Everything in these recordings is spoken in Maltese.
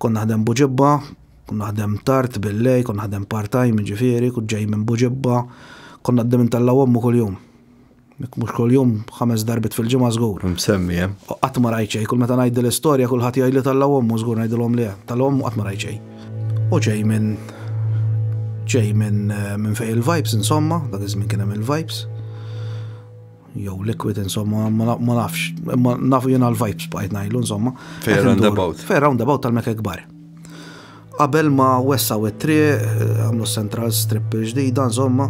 Kont naħdem Buġibba, kont naħdem tard billejl, kont naħdem part-time jiġifieri, kont ġej minn Buġibba, kont ngħaddi minn Tellgħa Ommu kuljum. Jekk mhux kuljum, ħames darbiet fil-ġimgħa żgur. Msemmi hemm. Qatt ma rajt xejn, kull meta ngħid din l-istorja kulħadd jgħidli Tellgħa Ommu, żgur ngħidilhom le, Tellgħa Ommu qatt ma rajt xejn. U ġej minn ġej minn fejn il-vibes insomma, dak iż-żmien kien hemm il-vibes. jew liquid insomma, ma nafx, ma nafu jena l-vibes bqajt najlu insomma. Fej roundabout. Fej roundabout tal-mekka kbar. Qabel ma wessa u tri, għamlu central strip ġdida insomma,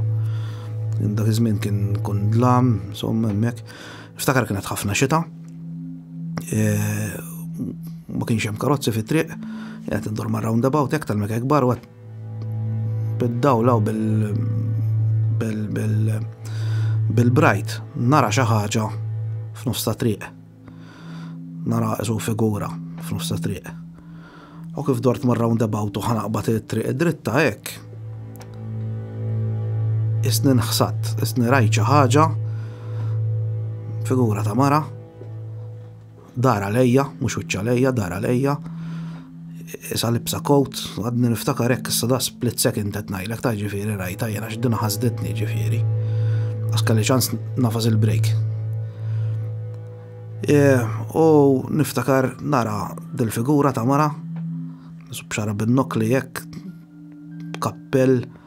dak iż-żmien kien kun dlam, insomma hemmhekk. Ftakar kienet ħafna xita. E, ma kienx hemm karozzi fit-triq, qed indur ma' roundabout hekk tal-mekka kbar u bid-dawl hawn bil bil bil bil-brajt nara xi ħaġa f'nofs ta' triq. Nara isu figura f'nofs ta' triq. U kif dort mar roundabout u ħanaqbad it-triq id-dritta hekk. Isni nħsat, isni rajt xi ħaġa figura ta' mara Dar għalejja, mhux wiċċ għalejja, dar għalejja. Isa libsa kowt, għadni niftakar hekk issa da split second qed ngħidlek ta' ġifieri rajta jiena x'dina ħasditni ġifieri. Għax kelli ċans nafas il-break. E, u niftakar nara dil-figura ta' mara, b'xara bin-nokli hekk, kappell,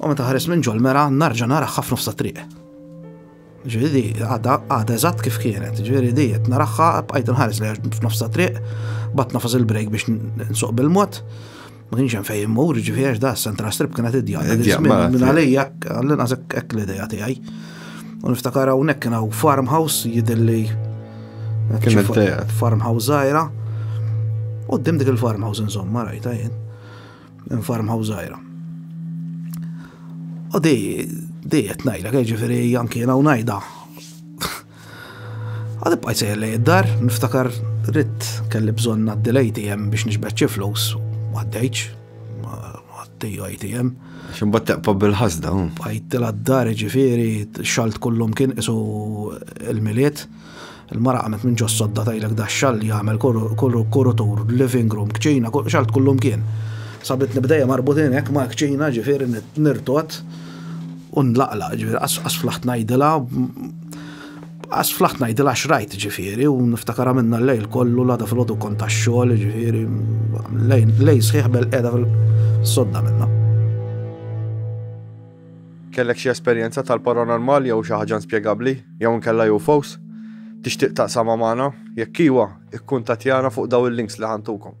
U meta ħares minn ġol-mera, narġa naraħħa f'nofsa triq. Ġviri, għada, għada eżatt kif kienet, ġviri di, jett naraħħa, bqajt nħares li f'nofsa triq, bat nafas il-brejk biex nsuq bil-mod, ma kienx hemm fejn mur, ġviri għax da, sentra strip kienet id-dja, minn għalija, għallin għazek ek l-ideja tijaj. U niftakar hawnhekk kien hawn farmhouse jidilli. Kien il-tejat. Farmhouse zaħira. U dim dik il-farmhouse insomma rajta jien. Minn farmhouse żgħira. U di, di qed ngħidlek, eh, ġifieri anki jiena ngħidha. Għad bqajt sejjer lej id-dar, niftakar ritt kelli bżonn għaddi l-ATM biex nixbet xi flus, għaddejċ, għaddi ATM. Ximbat taqpa bil-ħazda. Bqajt l-dar ġifieri, xalt kullum kien isu il-miliet. Il-mara qamet minn ġos-sodda tgħidlek da xall li jagħmel kurutur, living room, kċina, xall tkullhom kien. Sabitni b'dejja marbutin hekk mal-kċina ġifieri nirtot u nlaqlaq ġifieri qas flaħt ngħidilha qas flaħt ngħidilha x'rajt ġifieri u niftakar għamilna l-lejl kollu l-għada fil-għodu kont tax-xogħol ġifieri lejn sħiħ bel qiegħda fil-sodda minna. Kellek xi esperjenza tal-paranormal jew xi ħaġa inspjegabbli, jew inkella UFOs? Tixtieq taqsamha magħna? Jekk iwa, ikkuntattjana fuq dawn il-links li ħa ntukom.